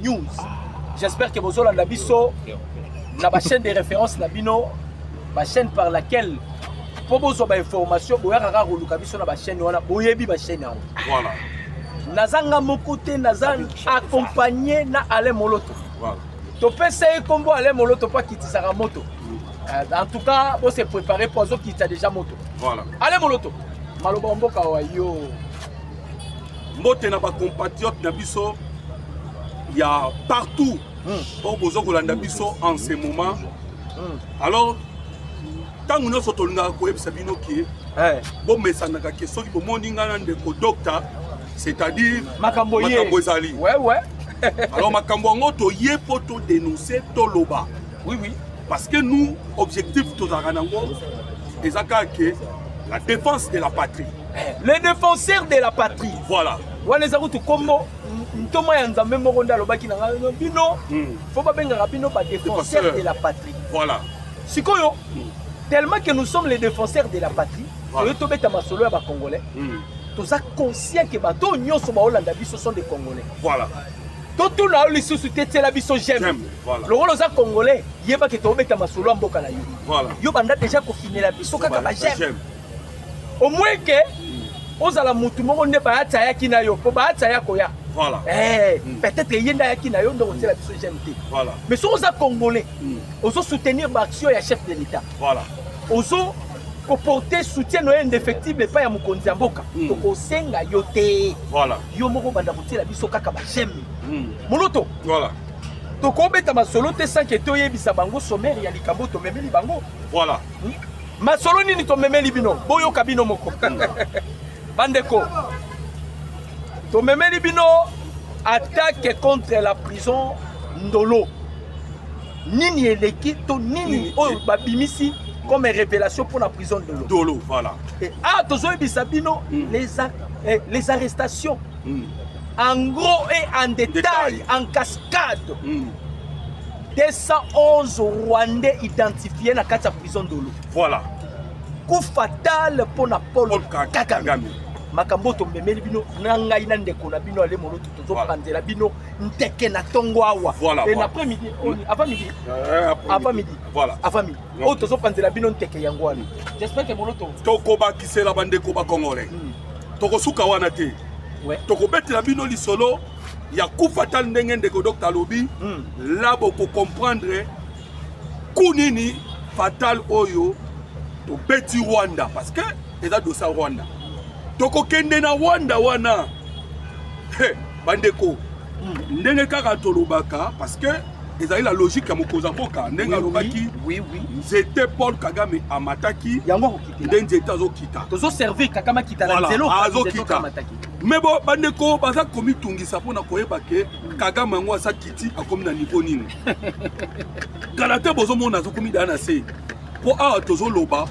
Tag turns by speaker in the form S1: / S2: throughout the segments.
S1: news j'espère que bozolanda biso na bachaîne de référence na bino bachaîne par laquelle mpo bozwa bainformation boyaka kaka koluka biso na bachaîne wana boyebi bachaîne yango voilà.
S2: naza nga
S1: moko te naza accompagne na alain moloto voilà.
S2: topesa ye
S1: nkombo alain moloto mpo akitisaka moto euh, en tout cas bose prépare mpo azokitisa déjà moto voilà. alain moloto maloba mboka wa yo
S2: mbote na bacompatiote na biso ya partout hmm. oyo boza kolanda biso en ce moment hmm. alors ntango nyonso tolingaka koyebisa bino ke eh. bomesanaka ke soki bomoni ngai na ndeko docta c'est-à-dire makambo
S1: ezali alors makambo
S2: yango toye mpo todenonse toloba Oui, oui.
S1: Parce que nous,
S2: objectif tozalaka nango eza kaka ke la défense de la patrie. Les défenseurs
S1: de la patrie. Voilà. wana eza
S2: kutu nkombo
S1: ntoma ya nzambe moko nde alobaki na ngai bino hmm. fo babengaka bino badéfenseur de la patrie voilà
S2: sikoyo
S1: hmm. tellement que nous sommes les défenseurs de la patrie oyo tobeta masolo ya bacongolais hmm. toza conscient ke bato oyo nyonso baolanda biso sont des congolais voilà
S2: totuna yo
S1: lisusu te tiela biso j'aime lokola oza
S2: congolais
S1: yeba ke tobeta masolo ya mboka na yo yo banda deja
S2: kofinela
S1: biso kaka ba j'aime au moins ke ozala mutu moko nde bayati ayaki na yo mpo bayati aya koya eh,
S2: mm. peut-être
S1: ye nde ayaki na yo nde okotiela biso j'aime te mais soki oza
S2: congolais
S1: mm. ozo soutenir baaction ya chef de l'état ozo ko porter soutien noye indefectible epai ya mokonzi ya mboka mm. tokosenga yo te voilà. yo moko
S2: banda kotiela
S1: biso kaka ba j'aime mm. moloto voilà.
S2: tokobeta
S1: masolo te sanke te oyebisa bango sommaire ya likambo tomemeli bango voilà. mm.
S2: masolo
S1: nini tomemeli bino boyoka bino moko mm. bandeko tomemeli bino attaque contre la prison ndolo nini eleki to nini oyo babimisi comme révélation pour la prison de Dolo. voilà. Et,
S2: ah, Tozo
S1: Bisabino, mm. les, a, eh, les arrestations. Mm. En gros et en détail, détail. en cascade. Mm. 211 Rwandais identifiés dans la prison de l'eau. Voilà.
S2: Coup
S1: fatal pour la Paul, Paul Kagame. Kagame. makambo tomemeli bino na ngai na ndeko na bino ale moloto tozopanzela bino nteke na tongo awa voilà, et voilà. après midi
S2: oh,
S1: avant midi euh, avant midi voilà avant midi
S2: oyo oh,
S1: tozopanzela bino nteke yango wana j'espère que moloto tokobakisela
S2: bandeko bakongole hmm. tokosuka wana te ouais. tokobetela
S1: bino
S2: lisolo ya kufa tal ndenge ndeko dokta alobi hmm. la bokocomprendre ku nini fatal oyo tobeti rwanda parce que eza dosa rwanda tokokende na rwanda wana hey, bandeko hmm. ndenge kaka tolobaka parce que ezali na logique ya mokonzi ya mboka ndenge alobaki nzete
S1: paul
S2: kagame amataki nde
S1: nzete
S2: azokita me bo bandeko baza komitungisa mpo na koyeba ke kagame yango aza kiti akomi na niveau nini kala te bozomona azokomi daa na se mpo awa tozoloba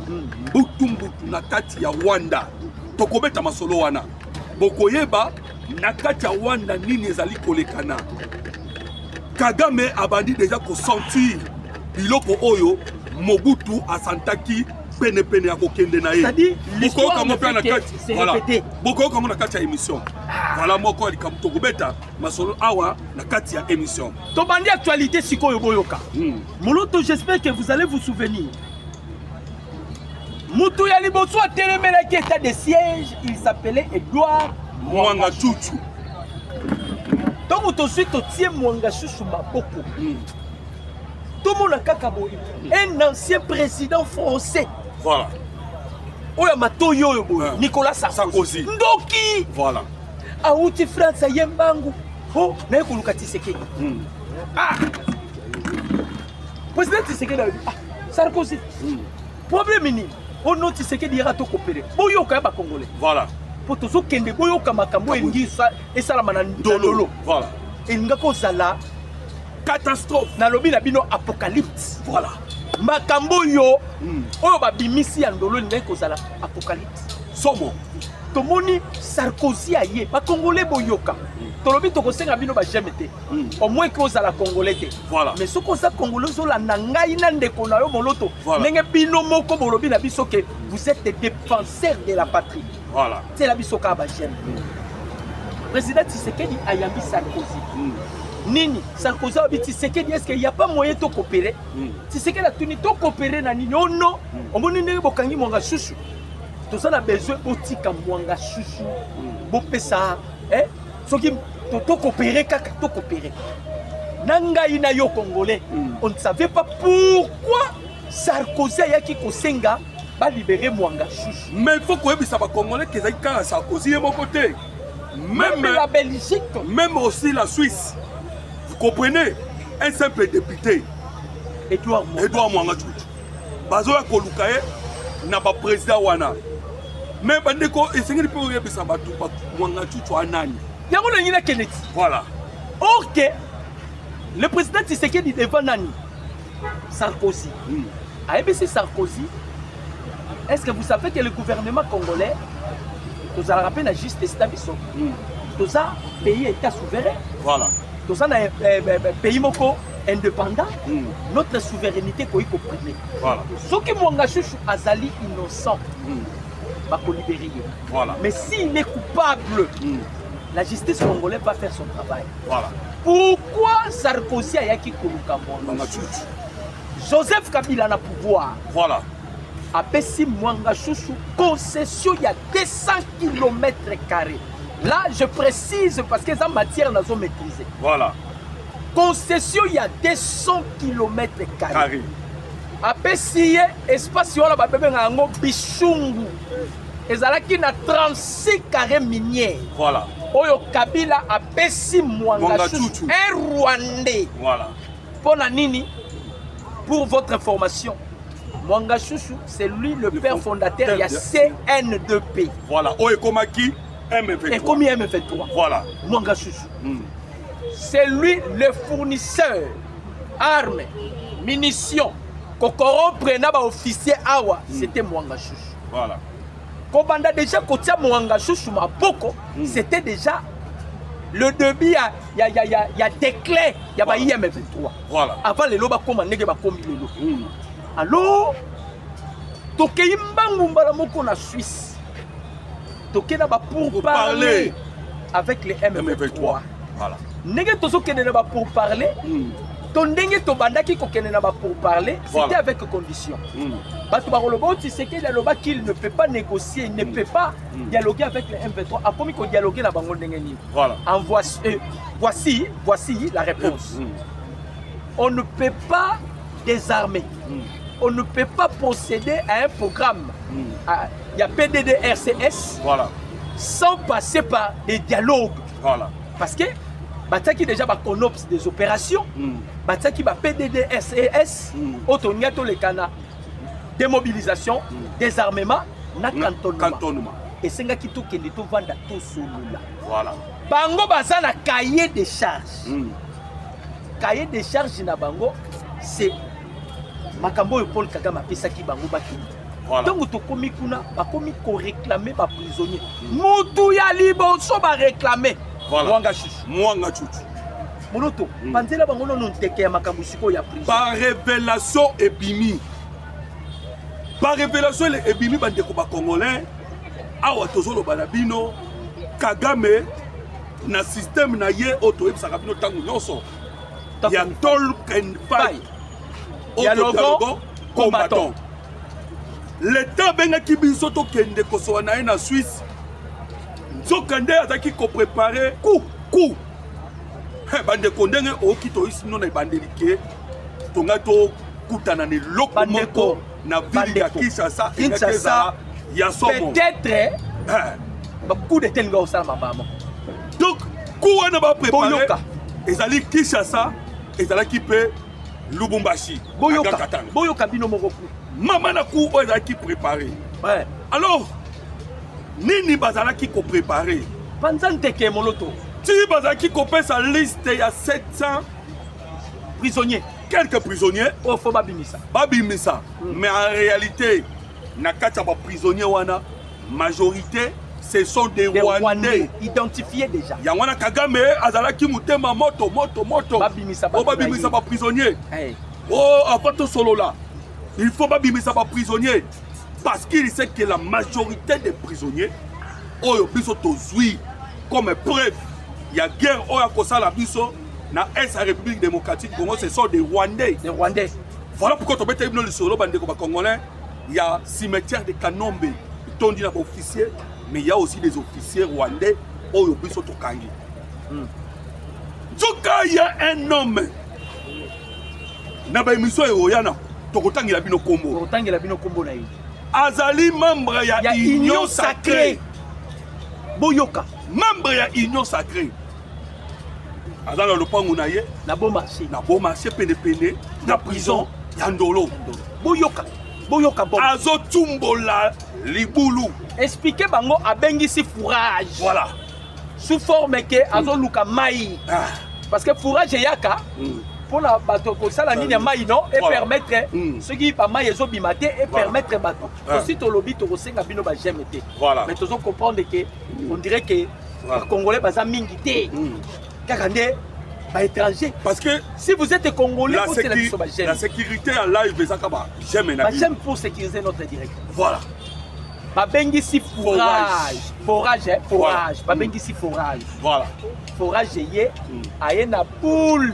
S2: mbutu mbutu na kati ya rwanda tokobeta masolo wana bokoyeba na kati ya rwanda nini ezali kolekana kagame abandi deja kosentir biloko oyo mobutu asantaki penepene ya kokende na ye
S1: bokoyoka
S2: yango mpe na kati bokoyoka yango
S1: na kati
S2: ya émission vala moko ya likambo tokobeta masolo awa na kati ya émission tobandi actualité
S1: sikoyo boyoka hmm. Moloto, j'espère que vous allez vous souvenir. Mutu ya liboso qui état de siège, il s'appelait Edouard Mwanga Chuchu. Donc tout suite otie Mwanga Chuchu maboko. Hmm. Tout monde a kakaboyi. Un ancien président français. Voilà.
S2: Oya
S1: mato yo boy. Hein. Nicolas Sarkozy. Ndoki. Voilà.
S2: Auti
S1: France yembangu. Ho, naye kuluka Tshisekedi. Hmm. Ah! President Tshisekedi alobi ah, Sarkozy. Mm. Problème nini? Ono Tshisekedi yaka to kopere. Boyoka ya ba Congolais. Voilà. Po tozo
S2: kende
S1: boyoka makambo elingi esalama na ndololo. Voilà.
S2: Elinga kozala
S1: catastrophe. Nalobi na bino apocalypse. Voilà. Makambo oyo mm. oyo babimisi ya ndolo elingaki kozala apocalypse. Somo.
S2: tomoni
S1: sarkozy aye bakongole boyoka mm. tolobi tokosenga bino bajeme te mm. au moins que ozala congolais te voilà. mais soki oza
S2: congolais
S1: ozolanda ngai na ndeko na yo moloto voilà. ndenge bino moko bolobi na biso ke vous êtes des défenseurs de la patrie voilà. tiela biso
S2: kaka
S1: bajeme mm. président tisekedi ayambi sarkozy mm. nini sarkozy alobi tisekedi eske ya pas moyen to coopere mm. tisekedi atuni to coopere na nini ono oh mm. omoni ndenge bokangi mwanga susu toza na besoin botika mwanga susu mm. bopesa eh? soki to coopérer kaka to coopérer na ngai na yo congolais mm. on ne savait pas pourquoi sarkozy ayaki kosenga balibere mwanga susu mais faut koyebisa
S2: bacongolais ke ezalaki kaka sarkozy ye moko te même
S1: la belgique même aussi la
S2: suisse vous comprenez un simple député edouard
S1: mwanga cucu
S2: bazoya koluka ye na baprésident wana Mais bandeko esengeli mpe oyebisa bato mwanga cucu anani yango na yina keneti
S1: voilà
S2: or que
S1: le président Tshisekedi devant nani Sarkozy oui. ayebisi Sarkozy est-ce que vous savez que le gouvernement congolais tozalaka mpe na justice na biso hmm. toza pays état souverain voilà toza
S2: na eh,
S1: eh, eh, pays moko indépendant mm. notre souveraineté ekoki koprime voilà. soki
S2: mwangashushu
S1: azali innocent mm. bakolibere ye voilà. mais
S2: s'il est
S1: coupable mm. la justice congolaise va faire son travail voilà.
S2: pourquoi
S1: sarkozy ayaki koluka mwangashushu joseph kabila na pouvoir voilà.
S2: apesi
S1: mwangashushu concession ya 200 km carré là je précise parce que eza matière nazo maîtrise voilà.
S2: concession
S1: ya 200 kilomètre carré apesi ye espace wana babebengaka yango bishungu ezalaki na 36 carré minier voilà. oyo
S2: kabila
S1: apesi mwangachuchu un rwandais voilà.
S2: mpo na nini
S1: pour votre information mwangachuchu c'est lui le, le père fondateur ya cn2p voilà oyo
S2: ekomaki m23 ekomi
S1: m23
S2: voilà
S1: mwangachuchu
S2: mm.
S1: C'est lui le fournisseur armes, munitions, kokorompre na baofficier awa mm. c'était Mwanga Chouchou. Voilà.
S2: Kobanda
S1: déjà kotia Mwanga Chouchou maboko mm. c'était déjà le début ya ya ya ya, ya déclin ya ba IM 23. Voilà. Avant lelo
S2: bakoma ndenge
S1: bakomi lelo. Mm. Alors tokei mbangu mbala moko na Suisse tokenda ba pour parler avec les M23 voilà
S2: ndenge tozokende
S1: na ba pour parler hmm. to ndenge tobandaki kokende na ba pour parler c'était avec condition hmm. bato bakoloba o tisekeli aloba qu'il ne peut pas négocier ne hmm. peut pas dialoguer avec les M23 akomi kodialogue na bango ndenge nini en voici,
S2: euh,
S1: voici voici la réponse on ne peut pas désarmer on ne peut pas procéder à un programme à, Il y a PDDRCS. Voilà.
S2: Sans passer
S1: par des dialogues. Voilà. Parce
S2: que
S1: bataki déjà baconops des opérations mm. bataki ba pddses mm. oyo toninga toleka na démobilisation mm. désarmement na cantonnement esengaki tokende tovanda tosolola voilà.
S2: bango baza
S1: na cahier de charge mm. cahier de charge na bango c'est makambo oyo paul kagame apesaki bango bakende ntango tokomi
S2: kuna
S1: bakomi koreklame baprisonnier motu ya liboso bareklame mwanga chuchu
S2: mwanga
S1: chuchu
S2: moloto hmm.
S1: banzela bango nono nteke ya makambo sikoyo ya prison barevelation
S2: ebimi barevelation ebimi bandeko bacongolais awa tozoloba na bino kagame na systeme na ye oyo toyebisaka bino ntango nyonso ya tolkenfai ya
S1: logo combattant
S2: leta abengaki biso tokende kosola na ye na swisse nzoka nde azalaki koprepare ku ku bandeko ndenge oyoki toyisi bino na ebandeli ke tongai tokutana na eloko moko na ville ya kinshasa eleki ezala ya somo peut-être
S1: bacoup de tel nga osala mabaa moko donc
S2: ku wana baprepare ezali kinshasa ezalaki mpe Lubumbashi, boyoka, Katanga.
S1: Boyoka bino moko ku. Mama na ku oyo
S2: ezalaki préparer. Ouais. Alors nini bazalaki ko préparer? Panza nteke
S1: moloto. Ti bazalaki
S2: kopesa liste ya 700
S1: prisonniers. Quelques
S2: prisonniers. Oyo oh, faut babimisa.
S1: Babimisa. Mm.
S2: Mais en réalité Na kati ya ba prisonniers wana majorité ce sont des rwandais identifiés déjà
S1: yango wana kagame
S2: azalaki motema moto moto moto
S1: o babimisa baprisonnier
S2: o avant tosolola il faut babimisa baprisonnier parce qu'il sait que la majorité des prisonniers oyo biso tozwi comme preuve ya guerre oyo akosala biso na est ya république démocratique congo ce sont des rwandais Voilà pourquoi tobetaki bino lisolo bandeko ba congolais ya cimetière de Kanombe etondi na baofficier mais ya aussi des officiers rwandais oyo biso tokangi hmm. nzoka ya un homme na baémission ya oyana tokotangela bino kombo tokotangela bino kombo na ye
S1: azali
S2: membre ya, ya union sacrée
S1: boyoka membre ya
S2: union sacrée aza na lopango na ye na bomarse na
S1: bomarse penepene na prison
S2: ya ndolo boyoka
S1: boyoka bo azotumbola
S2: libulu explike bango
S1: abengisi fourage voilà
S2: sous forme
S1: ke mm. azoluka mai ah. parce que fourage eyaka mm. mpona bato kosala nini ya mai no epermettre mm. soki bamai ezobima te epermettre bato ah. tosi tolobi tokosenga bino bajeme te mais tozo comprendre ke on dirait ke ba congolais baza mingi te hmm. kaka nde ba étranger parce que si vous
S2: êtes congolais
S1: la, sécu la
S2: sécurité en live ezaka ba j'aime na ba j'aime pour sécuriser notre
S1: direct voilà babengisi forage forage eh, forage babengisi forage voilà
S2: forage eye
S1: hmm. aye na poule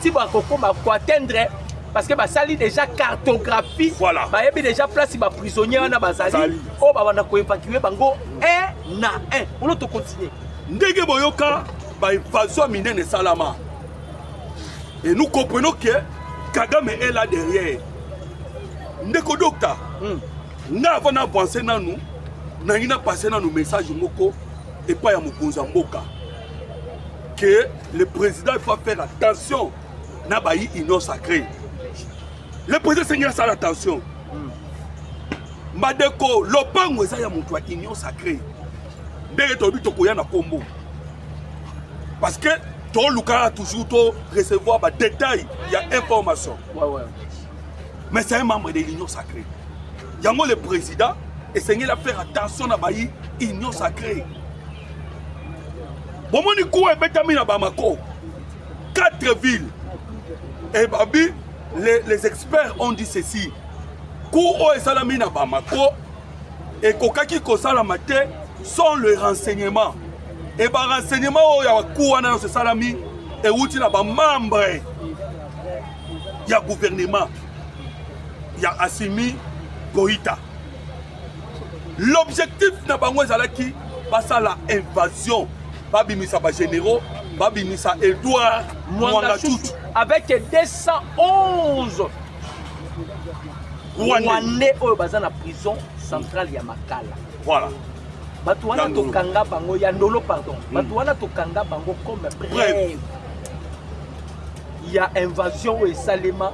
S1: ti bakokoma koatteindre parce que basali déjà cartographie voilà. bayebi déjà
S2: place
S1: baprisonnier wana bazali oyo babanda koevacue bango un na un ono tocontinue ndenge boyoka
S2: bainvasion minene esalama et nous comprenons que kagame est là derrière ndeko docta hmm. nga avant na avance nanu nangi na passe nanu message moko epai ya mokonzi ya mboka que le président il faut faire attention na bayi union sacrée le président esengeli asala attention bandeko lopango eza ya moto ya union sacrée ndenge toyebi tokoya na nkombo parce que tolukaka toujours to recevoir badetail ya information ouais, ouais. mais c'est un membre de l'union sacrée yango le président esengeli affaire attention na bayi union sacrée bomoni kuwa ebetami na bamako 4 villes ebabi les, les experts ont dit ceci cour oyo esalami na bamako ekokaki kosalama te sans le renseignement e barenseignement oyo ya bacour wana nyonso esalami euti na bamembre ya gouvernement ya asimi goita l'objectif na bango ezalaki basala invasion babimisa bagénéraux babimisa edouard mwangachuchu avec 211
S1: rwandais oyo baza na prison centrale ya makala voilà
S2: bato wana
S1: tokanga bango ya ndolo pardon bato wana tokanga bango comme preuve ya invasion oyo esalema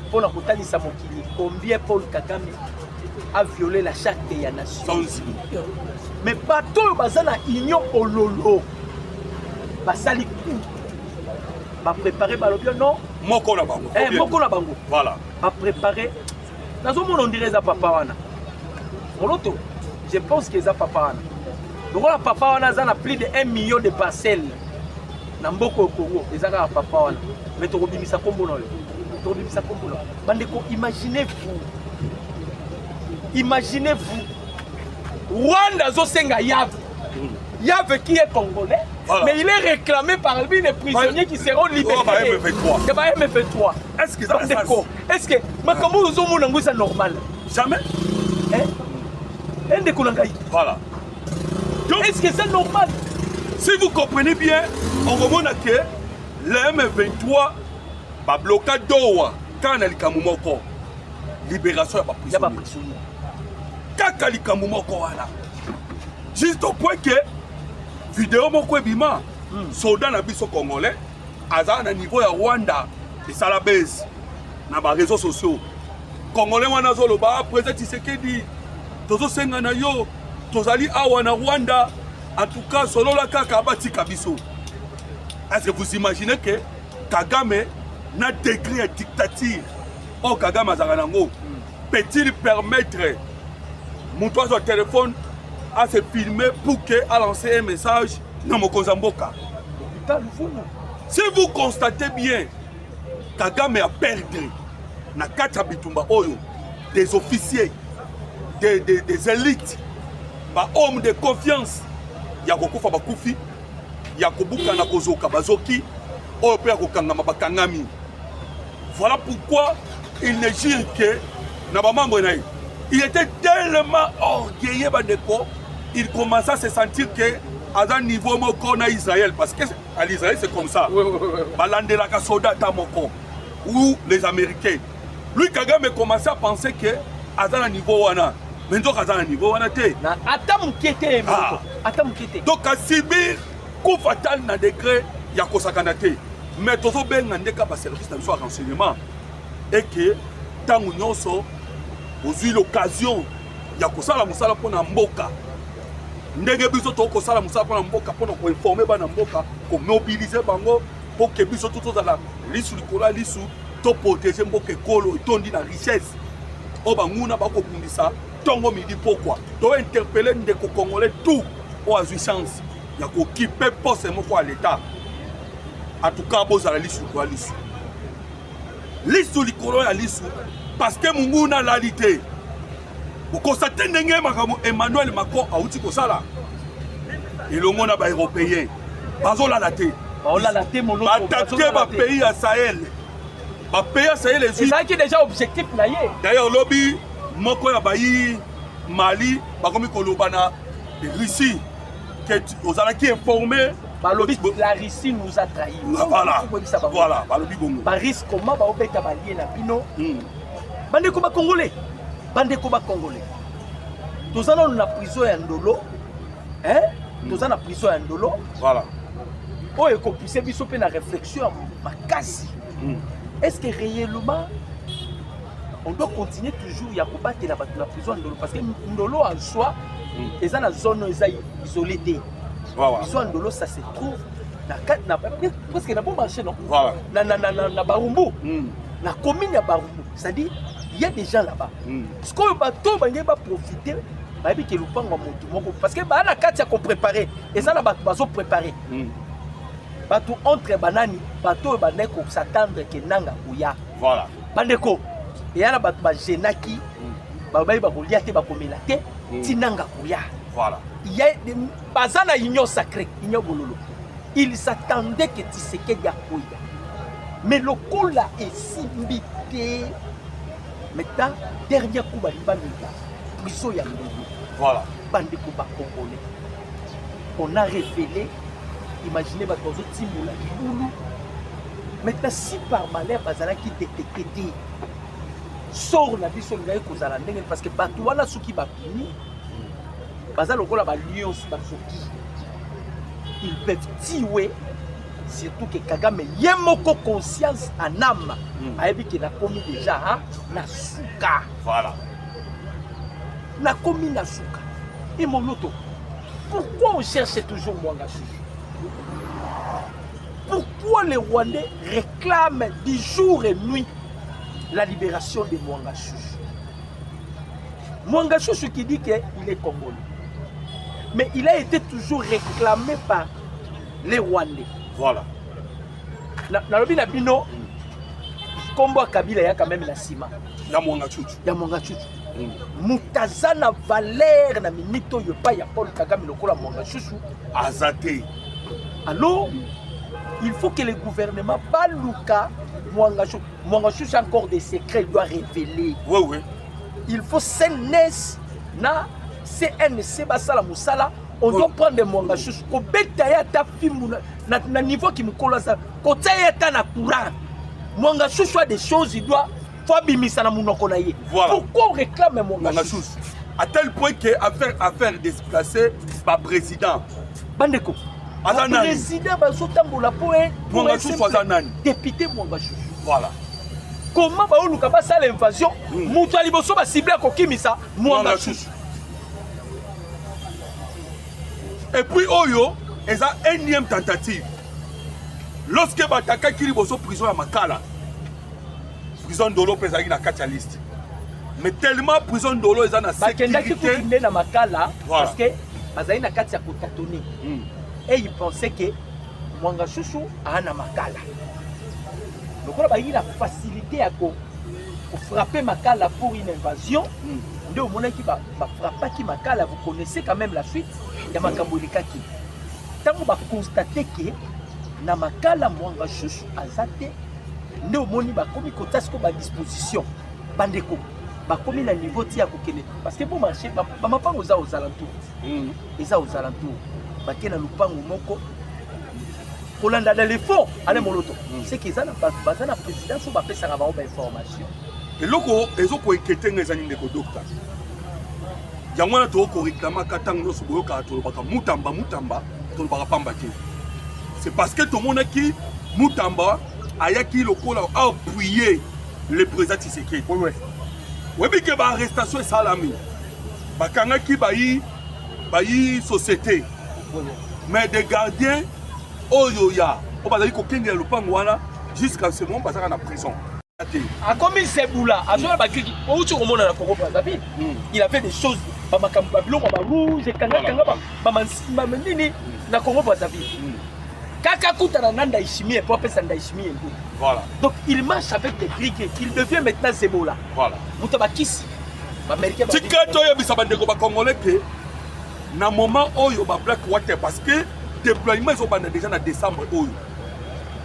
S1: mpo na kotalisa mokili combien paul kagame a viole la charte ya nation mais bato oyo baza na union ololo basali coup baprépare
S2: balobi
S1: non moko na bango eh,
S2: moko na
S1: bango voilà baprépare nazomona ondire eza papa wana moloto je pense que eza papa wana lokola papa wana aza na plus de 1 million de parcelle na mboka ya congo eza kaka papa wana me tokobimisa nkombo na yo tokobimisa nkombo na bandeko imaginez vous imaginez vous rwanda azosenga yave yave qui est congolais Voilà. Mais il est réclamé par lui les prisonniers qui seront libérés. Oh, bah, MF3. Bah, MF3. Est-ce qu'ils
S2: ont est ce que
S1: makambo oyo ozomona yango eza normal jamais
S2: endeko
S1: na ngai voilà donc est ce que eza normal si vous
S2: comprenez bien okomona ke le m23 babloka dowa kaka na likambo moko libération ya baprisonnier kaka likambo moko wana juste au point ke video moko ebima hmm. soda na biso congolais aza na niveau ya Rwanda esala base na ba réseaux sociaux congolais wana azoloba président Tshisekedi tozosenga na yo tozali awa na Rwanda en tout cas solola kaka batika biso est-ce que vous imaginez que Kagame na degré ya dictature oyo oh, Kagame azalaka nango Peut-il permettre moto azwa telefone ase filme pour que alance un message na mokonzi ya mboka si vous constatez bien kagame a perdre na kati ya bitumba oyo des officiers des, des, des élites bahomme de confiance ya kokufa bakufi ya kobukana kozoka bazoki oyo mpe ya kokangama bakangami Voilà pourquoi il ne jure que na ba membres na ye. Il était tellement orgueilleux bandeko, il commença à se sentir que à un niveau moko na Israël parce que à l'Israël c'est comme ça. Balandelaka soda ta moko ou les Américains. Lui Kagame commençait à penser que à un niveau wana mais nzoka aza na niveau wana te ata moke te ah. ata moke te donc asibir Coup fatal na degré ya kosakana te mais tozobenga nde ka baservice na biso ya renseignement eke ntango nyonso ozwi l'occasion ya kosala mosala mpo na mboka ndenge biso tokoki kosala mosala mpo na mboka mpo na koinforme bana mboka komobilize bango mpo ke biso to tozala lisu likolo ya lisu toprotege mboka ekolo etondi na richesse oyo banguna bakobundisa Tongo midi pokwa to interpele ndeko congolais tout oyo azwi chance ya kokipe poste moko ya leta atuka bozala lisu likolo ya lisu lisu likolo ya lisu parceke monguna alali te okosa te ndenge makambo emmanuel macron awuti kosala elongo na baeuropéen bazolala te
S1: batatue bapays ya
S2: sahel bapays ya sahel ezwi d'ailleurs
S1: lobi
S2: Moko ya bayi Mali bakomi koloba na Russie que ozalaki informé balobi la
S1: Russie nous a trahi. Ah, voilà.
S2: Voilà, balobi bongo. Ba Russes
S1: comment ba obeta ba liens na bino? Hmm. Bande ko ba congolais. Bande ko ba congolais. Toza na na prison ya Ndolo. Hein? Hmm. Toza na prison ya Ndolo. Voilà.
S2: Oyo
S1: ko pousser biso pe na réflexion makasi. Hmm. Est-ce que réellement on doit continuer toujours ya kobatela bato na prison ya ndolo parce que ndolo en soi hmm. eza na zone oyo eza isolé te prison ya ndolo ça se trouve na kati na presque na bon marché non
S2: na barumbu
S1: hmm. na commune ya barumbu c'est-à-dire il y a des gens là-bas hmm. sikoyo bato bange baprofite bayebi ke lopango ya motu moko parce que baa na kati ya koprépare eza na bato bazo prépare bato entre banani bato oyo bandaki kosatendre ke nanga koya voilà bandeko eya na bato bazenaki babai bakolia te bakomela te mm. tinanga koya
S2: voilà.
S1: baza na union sacré union bololo il s'attendait que tisekedi akoya mais lokola esimbi te maintenant dernier coup balingi bameka prison ya ndolo voilà.
S2: bandeko bakongole
S1: on a révélé imagine bato bazotimbola libulu Maintenant, si par malheur bazalaki détecté te, sort na biso elingaki kozala ndenge parce que bato wana soki babimi baza lokola balions bazoki ils peuvent tiwe surtout que kagame ye moko conscience en âme mm. ayebi ke nakomi déjà ha na suka voilà. nakomi na suka e moloto pourquoi on cherche toujours mwanga susu Pourquoi les Rwandais réclament du jour et nuit la libération de Mwanga Chouchou Mwanga Chouchou qui dit qu'il est congolais. Mais il a été toujours réclamé par les Rwandais. Voilà. nalobi na bino nkombo ya kabila yaka meme na nsima ya mwanga chuchu
S2: ya mwanga chuchu
S1: moto mm. aza na valere na minite oyo epai ya paul kagame lokola mwanga chuchu aza te
S2: alors
S1: il faut que le gouvernement baluka mwangasho mwangasho c'est encore des secrets il doit révéler oui, oui.
S2: il faut
S1: cns na cnc basala mosala on doit prendre mwanga susu kobeta ye ata fimbu na, na niveau kimokolo aza kotia ye ata na courant mwanga susu a des choses il doit faut abimisa na monoko na ye voilà. pourquoi on réclame mon gachus à tel point
S2: que affaire affaire déplacer ba président bandeko
S1: aza nani président bazotambola po e mwanga chushu aza
S2: nani député mwanga chushu
S1: voilà
S2: comment
S1: baoluka basala invasion moto hmm. ya liboso basible akokimisa mwanga chushu
S2: et puis oyo eza énième tentative lorsque batakaki liboso prison ya makala prison ndolo mpe ezalaki na kati ya liste mais tellement prison ndolo eza na bakendaki kokinde na makala
S1: parce que bazali na kati ya kotatone hmm. et il pensait que mwanga susu aa na makala lokola bayiki na facilité ya kofrappe makala pour une invasion hmm. nde omonaki bafrappaki makala vous connaissez quand même la suite ya makambo elekaki ntango baconstate ke na makala mwanga susu aza te nde omoni bakomi kotia siko badisposition bandeko bakomi na niveau ti ya kokende parce que bon marché bamapango eza aux alentours mm. eza aux alentours bake na lupango moko kolanda na lefort ale moloto mm. seke eza na bato baza na présidence oyo bapesaka bango bainformation eloko
S2: ezokoekete nga ezangi ndeko docta yango wana tokoreklamaka ntango nyonso boyokaka tolobaka mutamba mutamba tolobaka pamba te C'est parce que tomonaki Mutamba ayaki lokola appuyer le président Tshisekedi. Oui, oui. oyebi ke baarrestation esalami bakangaki bayi bayi société mais des gardiens oyo ya oyo bazali kokengela lopango wana jusqu'à ce moment bazalaka na prison akomi
S1: zebula azwala bagriki outi komona na congo brazzaville hmm. il avait des choses bamakambo babiloko ya barouge ekangakanga nini hmm. na congo brazzaville hmm.
S2: kaka akutana na ndaishimie mpo apesa ndaishimie mpo voilà. donc il marche
S1: avec des grike il devient maintenant zebola voilà. moto
S2: bakisi baaméricain tika toyebisa bandeko bacongolais ke na moment oyo bablak water parce que déploiement ezobanda déjà na décembre oyo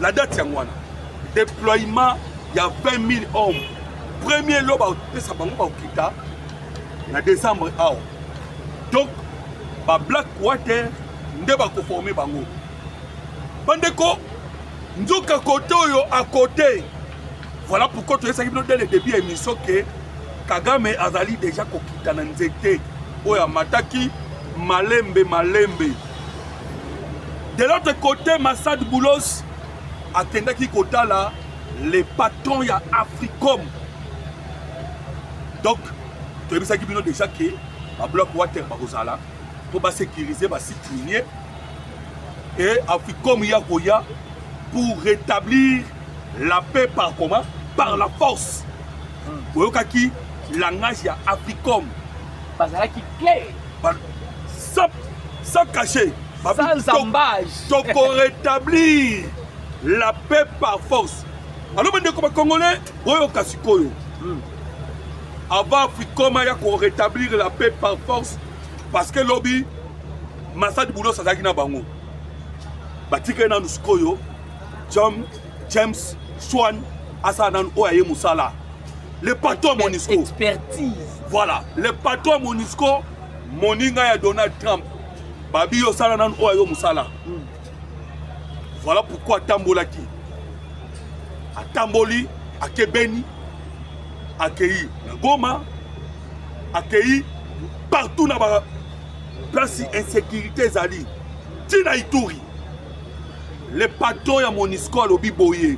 S2: La date yango wana déploiement ya 20 000 hommes premier lo bapesa bango bakokita na décembre awa donc ba black water nde bakoforme bango bandeko nzoka kote oyo akote voilà pourquoi toyesaki bino dès le début ya émission ke kagame azali déjà kokita na nzete oyo amataki malembe malembe De l'autre côté, Massad Boulos akendaki kotala les patrons ya Africom. Donc, toyebisaki bino déjà que ba bloc water bakozala mpo basécurise basite minier et Africom ya koya pour rétablir la paix par comment par la force boyokaki langage ya Africom bazalaki
S1: clair Ba, sans,
S2: sans cacher. Sans
S1: embâche. Toko
S2: rétablir la paix par force. Alors, bandeko ba Congolais, oyo kasikoyo. Hmm. Avant Africom aya ko rétablir la paix par force parce que lobby Massad Boulos azalaki na bango. Batikali nanu sikoyo James Swan asala nanu oyo aye mosala. le patron monisco expertise
S1: voilà le
S2: patron monisco moninga ya donald trump babi osala nanu oyo ayo mosala mm. voilà pourquoi atambolaki atamboli ake beni akei na goma akei partout na ba place insécurité ezali ntina ituri le patron ya monisco alobi boye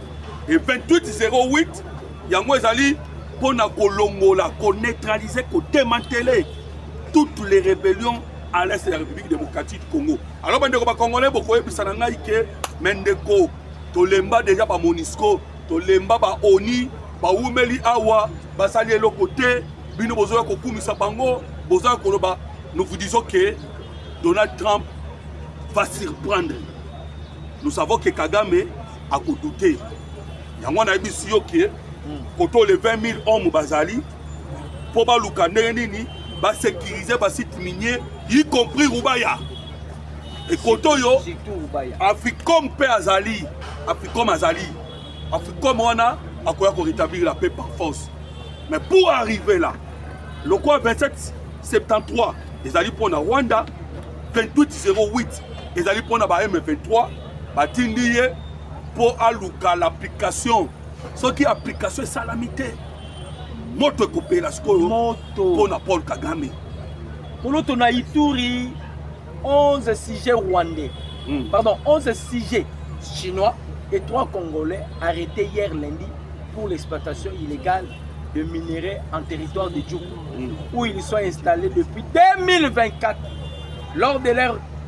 S2: et 2808 yango ezali mpo na kolongola koneutralize kodemantele toutes les rébellions à l'est ya république démocratique congo alors bandeko bacongolais bokoyebisa na ngai ke me ndeko tolemba deja bamonisco tolemba baoni bawumeli awa basali eloko te bino bozoya kokumisa bango bozoya koloba nous vous disons que donald trump va surprendre nous savons que kagame ako doute yango nayebisi yo ke hmm. koto le 20 000 homme bazali mpo baluka ndenge nini basécurise basite minier y compris rubaya ekoto oyo africom mpe azali africom azali africom wana akoya korétablir la paix par force mais pour arriver là lokola 27 73 ezali mpo na rwanda 28 08 ezali mpo na ba m 23 batindi ye mpo aluka l'application soki application esalami te moto ekopela sikoyo mpo na paul kagame koloto
S1: na ituri 11 sujet rwandais mm. pardon 11 sujet chinois et 3 congolais arrêtés hier lundi pour l'exploitation illégale de minerais en territoire de Djougou, mm. où ils sont installés depuis 2024 lors de leur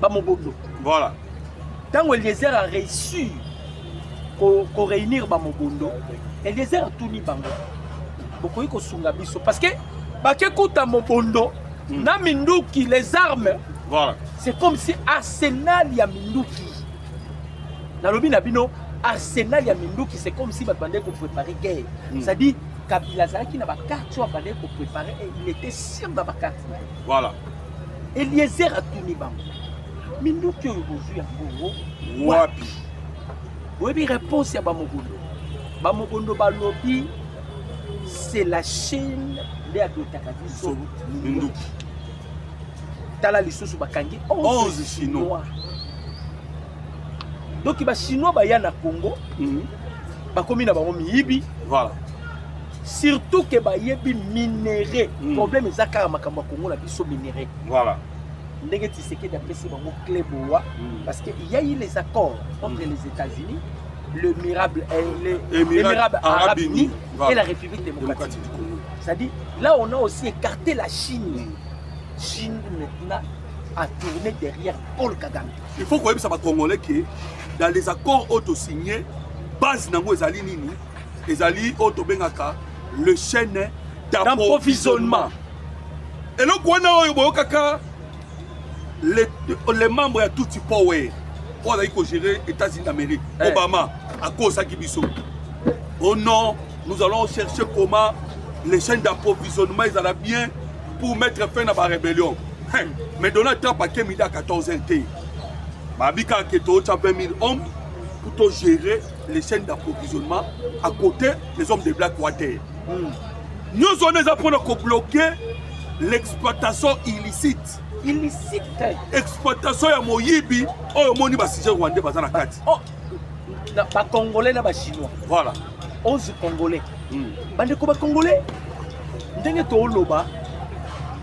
S1: bamobondo voilà
S2: ntango
S1: eliezer a réussir koreunir ko bamobondo eliezer atuni bango bokoki kosunga biso parce que bakekuta mobondo mm. na minduki les armes voilà. c'est
S2: comme si
S1: arsenal ya minduki nalobi na bino arsenal ya minduki c'est comme si bato bandeki koprépare guerre mm. c'est-à-dire kabila azalaki na bakarte oyo abandeki koprépare il était sur na bakarte na ye Voilà.
S2: Eliezer
S1: atuni bango minduki oyo bozwi yango wapi? Oyebi réponse ya bamobondo? Bamobondo balobi c'est la Chine nde adotaka biso minduki. Tala lisusu bakangi 11 chinois. Donc ba chinois baya na Congo, mm -hmm. bakomi na bango miyibi. Voilà.
S2: surtout
S1: que bayebi minerais mm. problème eza kaka makambo ya kongo na biso minerais voilà
S2: ndenge tisekedi
S1: apesi bango cle boa mm. parce que il y a eu les accords entre mm. les états-unis le mirable euh, l'émirable arabe uni et la république démocratique du congo c'est-à-dire là on a aussi écarté la chine mm. chine maintenant a tourné derrière paul kagame il faut koyebisa bacongolais
S2: que dans les accords oyo tosigne base nango ezali nini ezali oyo tobengaka le chaîne d'approvisionnement eloko wana oyo boyokaka le, le membre ya tutsi power oyo azali kogere états-unis d'amérique eh. obama akosaki biso oh non nous allons chercher comment les chaînes d'approvisionnement ezala bien pour mettre fin na barébellion hein. mais donald trump akemida 14 te babikaka ke tootya 20 000 hommes pour togere les chaînes d'approvisionnement à côté les hommes de black water mm. nyonso wana eza mpona kobloke l'exploitation illicite illicite
S1: exploitation
S2: ya moyibi oyo omoni basije rwandais baza na kati oh,
S1: bacongolais na bachinois voilà
S2: 11 congolais
S1: mm. bandeko bacongolais ndenge tooloba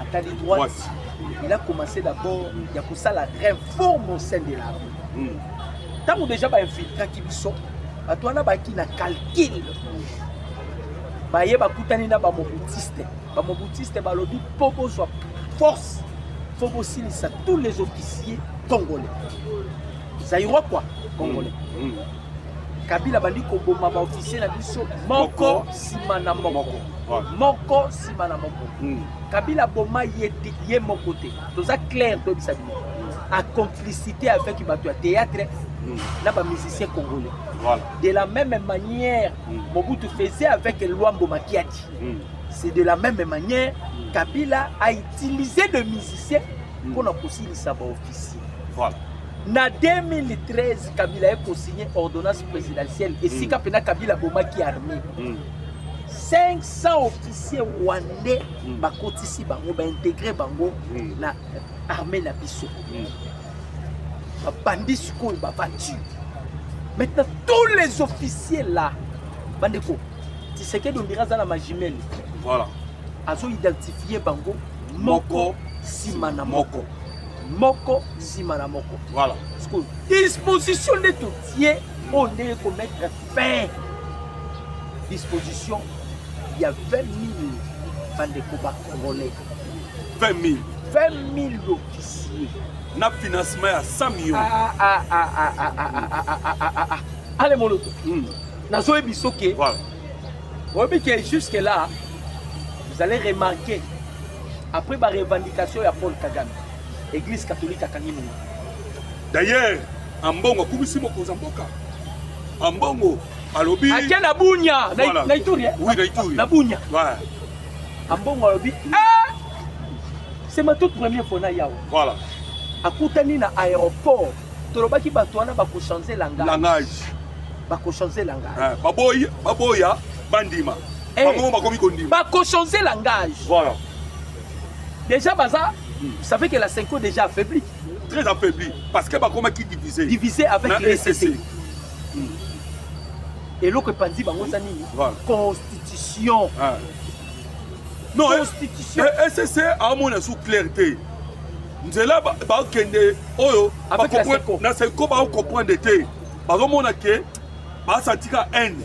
S1: atali droite il a commencé d'abord ya kosala réforme au sein de l'armée hmm. ntango déjà bainfiltraki biso bato wana baki na calcule baye bakutani na bamobutiste bamobutiste balobi mpo bozwa force fo bosilisa tous les officiers congolais zairoi quoi congolais mm. Mm. Kabila bandi koboma ba officier na biso moko sima na moko moko sima na moko hmm. Kabila boma ye ye moko te toza clair to bisa bino a hmm. complicité avec bato ya théâtre hmm. na ba musicien congolais voilà. de la
S2: même
S1: manière Mobutu faisait avec Luambo Makiadi c'est de la même manière Kabila a utilisé de musicien mpona kosilisa ba Voilà. Na 2013 Kabila eko signé ordonnance présidentielle esika mm. pena Kabila bomaki armée. Mm. 500 officiers rwandais mm. bakotisi bango baintegre bango mm. na armée na biso. Mm. Babandi sikoyo bavandi. Maintenant tous les officiers là bandeko Tshisekedi ondira aza na majimele. Voilà.
S2: Azo
S1: identifier bango moko, moko. sima na moko. moko nsima na moko voilà. sikoyo
S2: disposition
S1: nde totie oyo ndenge komettre fin disposition ya 20 mille bandeko bacongolais 20
S2: mille 20 mille
S1: officier na financement
S2: ya 100 million
S1: ale moloto nazoyebi soki
S2: oyebi ke
S1: jusque là vous allez remarquer Après ba revendication ya Paul Kagame, Église catholique akangi mungu. D'ailleurs,
S2: Ambongo akumisi mokonzi ya mboka. Ambongo alobi akia na bunya
S1: na, na Ituri. Eh? Oui, na Ituri. Na bunya. Ouais.
S2: Ambongo
S1: alobi ah! C'est ma toute première fois na yawa. Voilà.
S2: Akutani
S1: na aéroport. Tolobaki bato wana bakochange langage. Langage.
S2: Bakochange
S1: langage. Eh, baboya, baboya
S2: bandima. Eh, bakochanger langage
S1: voilà. déjà baza ça fait que la cinco déjà affaibli très affaibli
S2: parce que bakomaki divisé divisé avec ecc
S1: eloko epanzi bango eza nini constitution ah.
S2: non constitution
S1: ecc amona
S2: sous clair te nzela bakende oyo na
S1: seko bakokomprendre
S2: te bazomona ke basa tika haine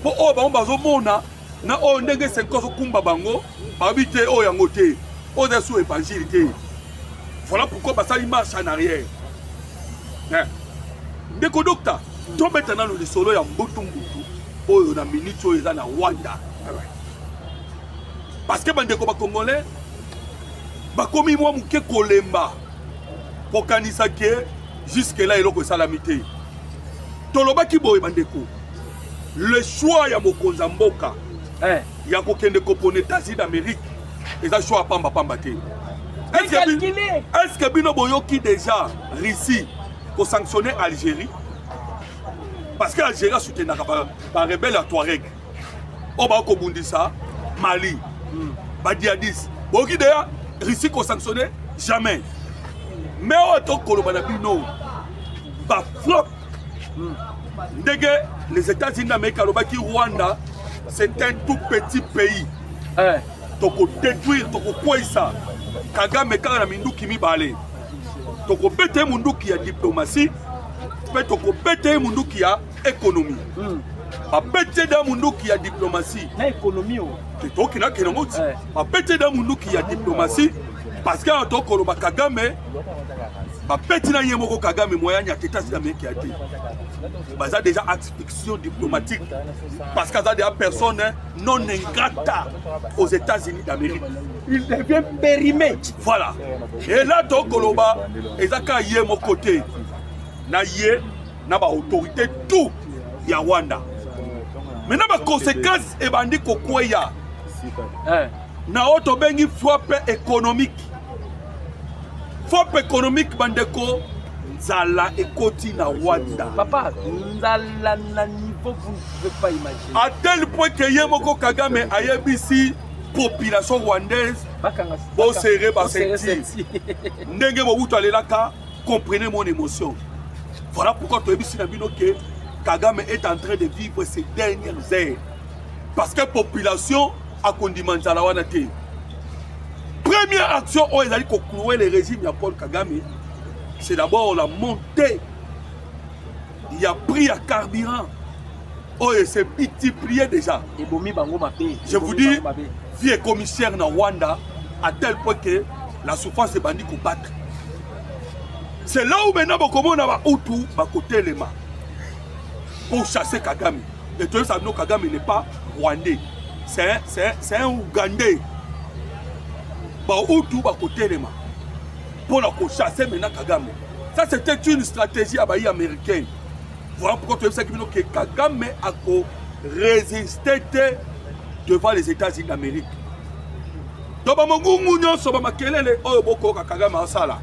S2: mpo oyo bango bazomona na oyo ndenge senko azokumba bango babi te oyo yango te oyo eza sur évangile te voilà pourquoi basali marche en arrière eh, ndeko dokta tobeta nano lisolo ya mbutumbutu oyo na minute oyo eza na rwanda parce que bandeko bacongolais bakomi mwa moke kolemba kokanisa ke jusque la eloko esalami te tolobaki boye bandeko le choix ya mokonzi ya mboka eh. ya kokende kopona états-unis d'amérique eza choix ya pamba pamba te est-ce que bino boyoki déjà russie kosanctionne algérie parce que algérie asoutenaka barebele ya touareg oyo bakoki kobundisa mali hmm. badiadis boyoki deya russie kosanctionne jamais me oyo tokoloba na bino baflop hmm. ndenge les états-unis d'amérique alobaki rwanda c'est un tout petit pays eh. tokotedwire tokokweisa kagame kaka na minduki mibale tokobeta ye monduki ya diplomatie mpe tokobeta ye monduki ya Economie. Mm. babete da munduki ya diplomatie na ekonomi
S1: o toki na kena ngoti
S2: eh. babete da munduki ya diplomatie parce que awa tokoloba kagame babeti na ye moko kagame moyani ya ketasi ya meke ya te baza déjà axe fiction diplomatique parce que aza déjà personne non ingrata aux états-unis d'amérique il devient
S1: périmé voilà
S2: et là tokoloba eza kaka ye moko te na ye na ba autorité tout ya Rwanda mais na ba conséquences ebandi kokweya eh. na oyo tobengi frappe économique frappe économique bandeko nzala ekoti na rwanda papa
S1: nzala na niveau vous ne pouvez pas imaginer à tel point que
S2: ye moko kagame ayebisi population rwandaise bosere basenti ndenge bobutu alelaka comprenez mon émotion voilà pourquoi toyebisi na bino ke kagame est en train de vivre ses dernières heures parce que population akondima nzala wana te première action oyo ezali kokloue le régime ya paul kagame c'est d'abord la montée ya prix ya carburant oyo ese multiplier déjà ebomi bango mabe je vous dis vie commissaire na rwanda à tel point que la souffrance ebandi kobattre c'est là où maintenant bokomona bautu bakotelema pour chasser kagame et toyebisa bino kagame n'est pas rwandais c'est un ougandais bautu bakotelema mpo na kochasser maintenant kagame ça c'était une stratégie ya bayi américaine voilà pourquoi toyebisaki bino ke kagame ako résister te devant les états-unis d'amérique to bamogungu nyonso bamakelele oyo bokoyoka kagame asala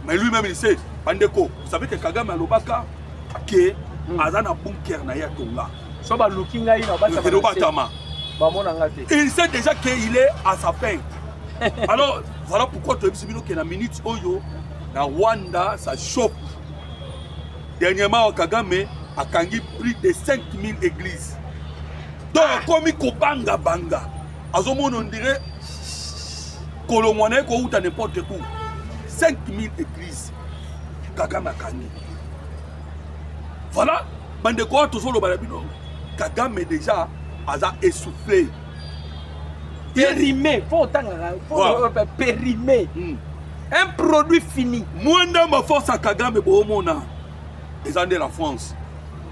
S2: mais lui même lise bandeko savez ke kagame alobaka ke hmm. aza na bunker na ye atonga so baluki ngai naobatama il sait déjà ke il est à sa fin alors voilà pourquoi toyebisi bino ke na minute oyo na rwanda ça chope dernièrement kagame akangi plus de 5000 églises donc akomi kobangabanga azomona ondire kolongwa na ye kowuta n'importe cour 5000 église kagame akangi voilà bandeko oyo tozoloba na bino kagame déjà aza essoufflé périmé
S1: fo otangaka euh, périmé hmm. un produit fini mwanda maforce
S2: ya kagame boomona eza nde la france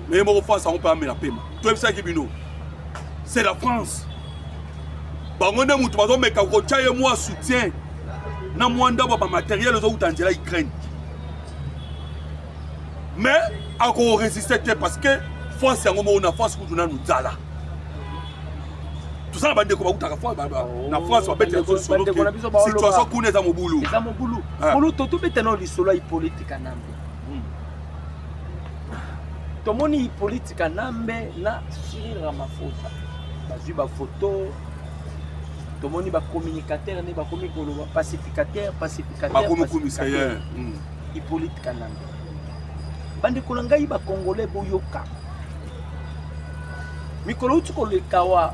S2: na ye moko france yango mpe amela pema toyebisaki bino c'est la france bango nde moto bazomeka kotya ye mwa soutien na mwa ndambo ya bamateriel ezowuta nzela ukraine mais akoresiste te parce que france yango moko na france kutu nanu zala toza na bandeko bakutaka na oh, france babetela biso lisolo situation kuna eza mobulu eza mobulu ah.
S1: tobetela lisolo ya ipolitika nano Hmm. Tomoni Hippolyte Kanambe na Cyril Ramaphosa bazwi bafoto tomoni bacommunicateur nde bakomi koloba pacificateur pacificateur
S2: hmm. hippolyte
S1: kanambe bandeko na ngai bacongolais boyoka mikolo uti koleka wa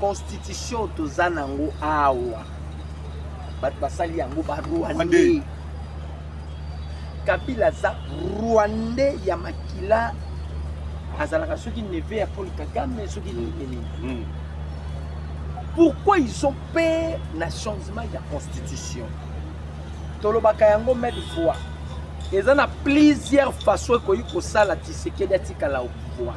S1: constitution toza nango awa bato basali yango barwandais kabila aza rwandais ya makila azalaka soki neve ya paul kagame soki nini hmm. pourquoi ils ont peur na changement ya constitution tolobaka yango mille fois eza na plusieurs façon ekoki kosala tisekedi atikala au pouvoir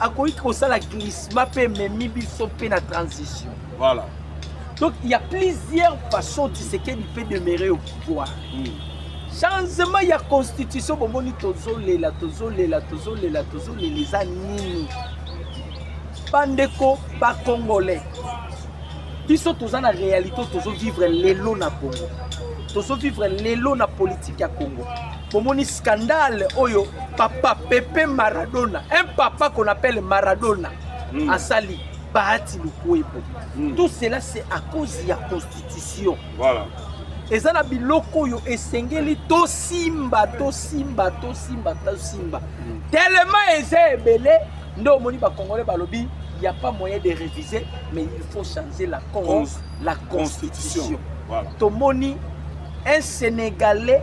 S1: akoki kosala glissement mpe ememi biso mpe na transition voilà
S2: donc il y a
S1: plusieurs façons tisekedi mpe demeurer au pouvoir mm. changement ya constitution bomoni tozolela tozolela tozolela tozolela eza nini bandeko bacongolais biso toza na réalité tozovivre lelo na congo tozovivre lelo na politike ya congo bomoni scandale oyo papa pepe maradona un papa qu'on appelle maradona mm. asali bahati lukwebo mm. tout cela c'est à cause ya constitution voilà.
S2: eza na
S1: biloko oyo esengeli tosimba tosimba tosimba tosimba mm. telema eza ebele nde omoni bakongole balobi ya pas moyen de réviser mais il faut changer la, con Cons la constitution, constitution. Voilà.
S2: tomoni
S1: un sénégalais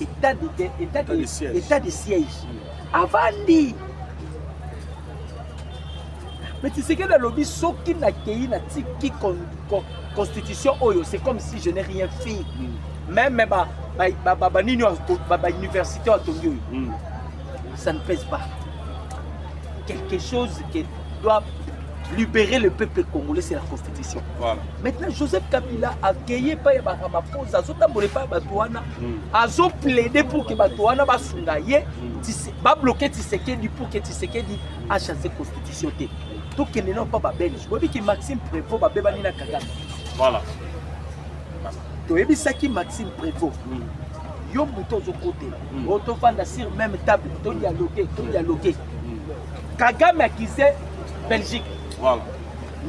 S1: etat de guerre, etat de, siège. Etat de siège. Avandi. Mais tu sais que lobby soki na keyi na tiki con, con, constitution oyo, c'est comme si je n'ai rien fait. Mm. Même mais ba ba ba ba, ba, nini, ba, ba université atongi oyo. Mm. Ça ne pèse pas. Quelque chose que doit libérer le peuple congolais, c'est la constitution. Voilà. Maintenant, Joseph Kabila a accueilli par Ramaphosa, azotambola epai ya bato wana azoplaide pour que bato wana basunga ye babloke tisekedi pour que tisekedi achase constitution te tokende nao mpa babelge boyebiki maxime prévot babebani na kagame voilà. toyebisaki maxime prévot mm. yo moto ozokotela mm. otofanda sur même table to dialogue to dialogue mm. kagame akize belgique voilà.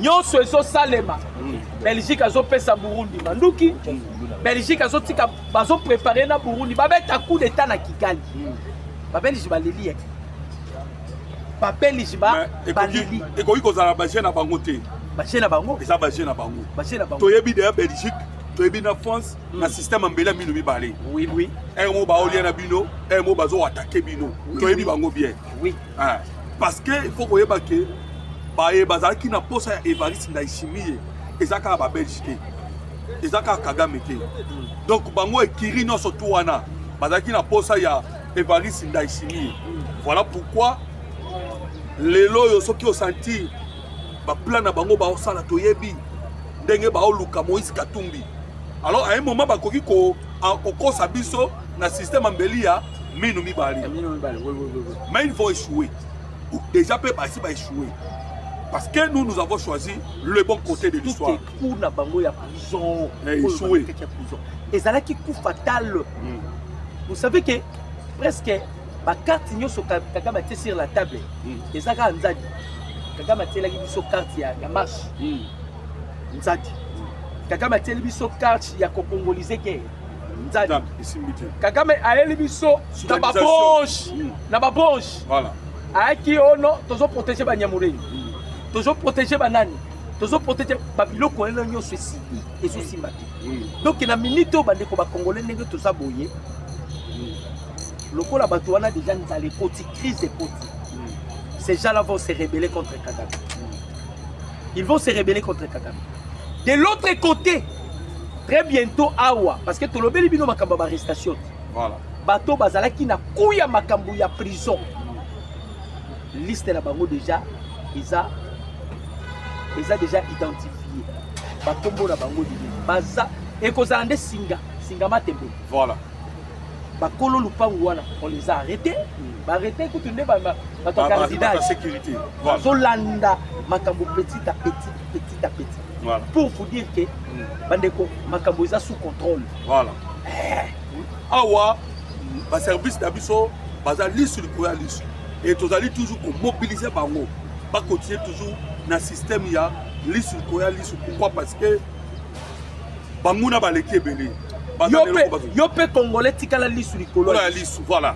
S1: nyonso ezosalema mm. belgique azopesa burundi manduki mm. belgique azotika bazoprepare na burundi babeta coup d'etat na kigali mm. babelge baleli ye babelge baleli ekoki kozala baje
S2: na bango te baje na bango eza
S1: baje na bango baje
S2: na bango toyebi deya belgique toyebi na france mm. na système ya mbele ya mino mibale oui, oui. ere
S1: moko baolia na
S2: bino ere moko bazoatake bino oui, toyebi oui. bango bien oui ah.
S1: parce
S2: que il faut koyeba ke baye bazalaki na posa ya evariste ndayishimiye eza kaka babelge te eza kaka kagame te donc bango ekiri nyonso tu wana bazalaki na posa ya evariste ndayishimiye voilà pourquoi lelo oyo soki osentir baplan na bango baosala toyebi ndenge baoluka moïse katumbi alors à un moment bakoki kokosa biso na système ya mbeli ya mino mibale mais il faut échouer déjà mpe basi ba échouer parce que nous nous avons choisi le bon côté de l'histoire cour na bango ya
S1: prison eh, échouer
S2: ezalaki
S1: coup fatal hmm. vous savez que presque bakarte nyonso kagame atie sur la table hmm. eza kaka nzadi kagame atielaki biso karte ya marche hmm. nzadi kagame atieli biso karte ya kokongolise ke nzadi kagame ayeli biso na babranche hmm. na babranche ayaki
S2: ono
S1: oh tozoprotege banyamurei hmm. tozoprotege banani tozoprotege babiloko wana nyonso esili ezosimba te hmm. donk na minute oyo bandeko bakongole ndenge toza boye lokola bato wana deja nzala ekoti crise ekoti ces gens là vont se rebeller contre kagame ils vont se rebeller contre kagame de l'autre côté très bientôt awa parce que tolobeli bino makambo ya barestation voilà. bato
S2: bazalaki
S1: na kou ya makambo ya prison liste na bango déjà eza eza déjà identifié bakombo na bango lili baza ekozala nde singa singa matembe voilà
S2: bakolo
S1: lupangu wana on les a arrêté mm. baarrete kutu nde bato ya gardidageazolanda makambo petit a petit petit a petit Voilà. Pour
S2: vous dire que
S1: mm. bandeko makambo eza sous contrôle. Voilà.
S2: Eh. Awa ba service na biso baza lisu likolo ya lisu et tozali toujours komobilize bango bakontinue toujours na système ya lisu likolo ya lisu pourquoi parce que banguna baleki ebele yo
S1: mpe congolais tikala lisu likolo ya lisu voilà